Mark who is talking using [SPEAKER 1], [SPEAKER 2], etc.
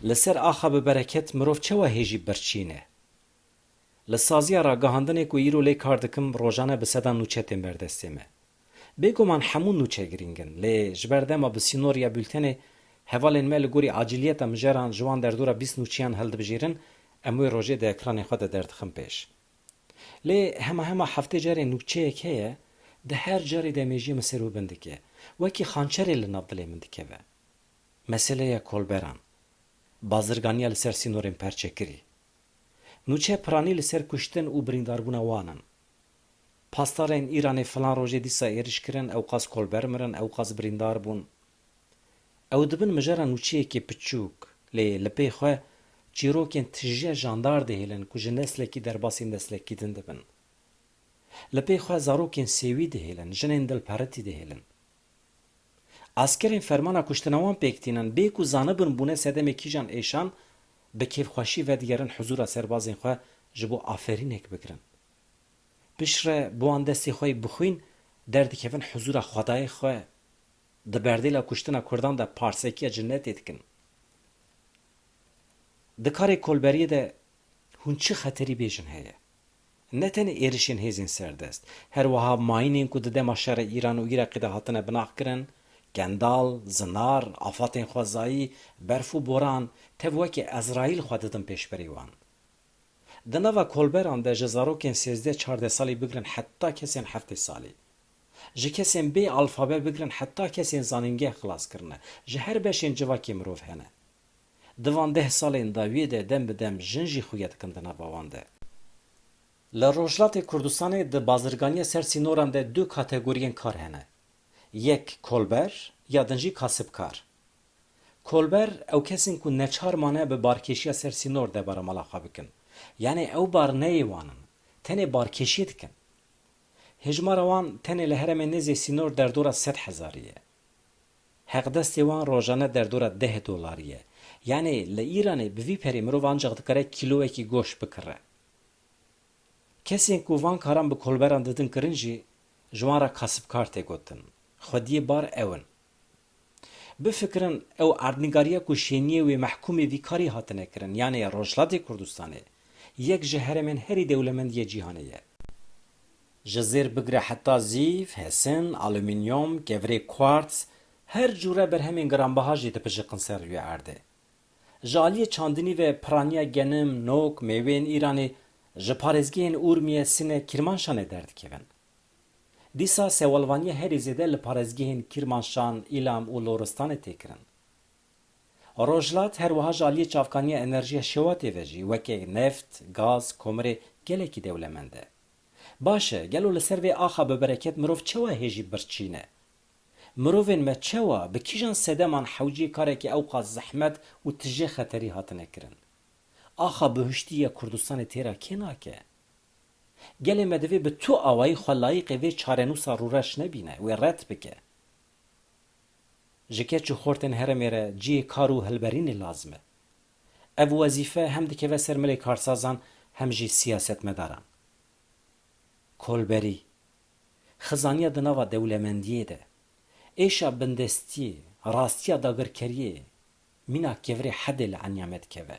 [SPEAKER 1] Li ser axa bi bereket mirov çawa hêjî birçîne? Li saziya ragihandinê ku îro lê kar dikim rojane bi sedan nûçe tên ber destê me. Bêguman hemû nûçe girîng in lê ji ber dema bi sînor ya bultenê hevalên me li gorî acîliyeta mijeran ji wan derdora bîst nûçeyan hildibijêrin em wê rojê di ekranê xwe de derdixin pêş. Lê hema hema heftê carê nûçeyek heye, di her carê de mêjiyê min ser û bin dike, wekî xançerê li nav dilê min dikeve. Meseleya kolberan, bazirganiya li ser sînorên perçekirî, nûçe piranî li ser kuştin û birîndarbûna wan in. Pasdarên Îranê filan rojê dîsa êriş kirin, ewqas kolber mirin, ewqas birîndar bûn. Ew dibin mijara nûçeyekê piçûk, lê li pê xwe çîrokên tijîya jandar dihêlin ku ji neslekî derbasî neslekî din dibin. Li pê xwe zarokên sêwî dihêlin, jinên dilperitî dihêlin. Askerên fermana kuştina wan pêk tînin, bê ku zanibin bûne sedemê kîjan êşan, bi kêfxweşî vedigerin huzûra serbazên xwe ji bo aferînek bigirin. Piştre bi wan destê xwe yê bixwîn derdikevin huzûra xwedayê xwe. Di berdêla kuştina kurdan de parsekiya cinetê dikin. Di karê kolberiyê de hûn çi xeterî bêjin heye? Ne tenê êrişên hêzên serdest, her wiha mayînên ku di dema şerê Îran û Îraqê de hatine binaxkirin, kendal, zinar, afatên xwezayî, berf û boran, tev wekî Ezraîl xwe didin pêşberî wan. Di nava kolberan de ji zarokên sêzdeh çardeh salî bigirin heta kesên heftê salî. Ji kesên bê alfabe bigirin heta kesên zanîngeh xilas kirine, ji her beşên civakê mirov hene. Di van deh salên dawiyê de dem bi dem jin jî xuya dikin di nava wan de. Li Rojhilatê Kurdistanê di bazirganiya ser sînoran de du kategoriyên kar hene. Yek kolber ya din jî kasibkar. Kolber ew kes in ku neçar mane bi barkêşiya ser sînor debara mala xwe bikin. Yanê ew bar neyê wan in. Tenê barkêşiyê dikin. Hejmara wan tenê li heremê nêzî sînor derdora sed hezarî ye. Heqdestê wan rojane derdora deh dolarî ye. Yanî li Îranê bi vî perê mirov ancaq dikare kîloyekî goşt bikire. Kesên ku van karan bi kolberan didin kirin jî ji wan re kasibkar tê gotin. Xwediyê bar ew in. Bifikirin ew erdnîgariya ku şêniyê wê mehkûmê vî karî hatine kirin yanê ya Rojhilatê Kurdistanê yek ji heremên herî dewlemend yê cîhanê ye. Ji zêr bigire heta zîv, hesin, alumînyom, kevirê quartz, her cûre berhemên giranbaha jî dipijiqin ser rûyê erdê. Ji aliyê çandinî ve piraniya genim, nok, mêweyên Îranê ji parêzgehên Urmiye, Sine, Kîrmanşanê derdikevin. Dîsa sewalvaniya herî zêde li parêzgehên Kîrmanşan, Îlam û Loristanê tê kirin. Rojhilat her wiha ji aliyê çavkaniya enerjiya şewatê ve jî weke neft, gaz, komirê gelekî dewlemend e. Baş e, gelo li ser vê axa bibereket mirov çawa hêjî birçîn e? Mirovên me çawa, bi kîjan sedeman hewciyê karekî ewqas zehmet û tije xeterî hatine kirin? Axa bihuştî ya Kurdistanê têra kê nake? Gelê me divê bi tu awayî xwe layîqê vê çarenûsa rûreş nebîne, wê red bike. Ji keç û xortên herêmê re cihê kar û hilberînê lazim e. Ev wezîfe hem dikeve ser milê karsazan hem jî siyasetmedaran. Kolberî, Xizaniya di nava dewlemendiyê de, êşa bindestiyê, rastiya dagirkeriyê mîna kevirê hedê li enyame dikeve.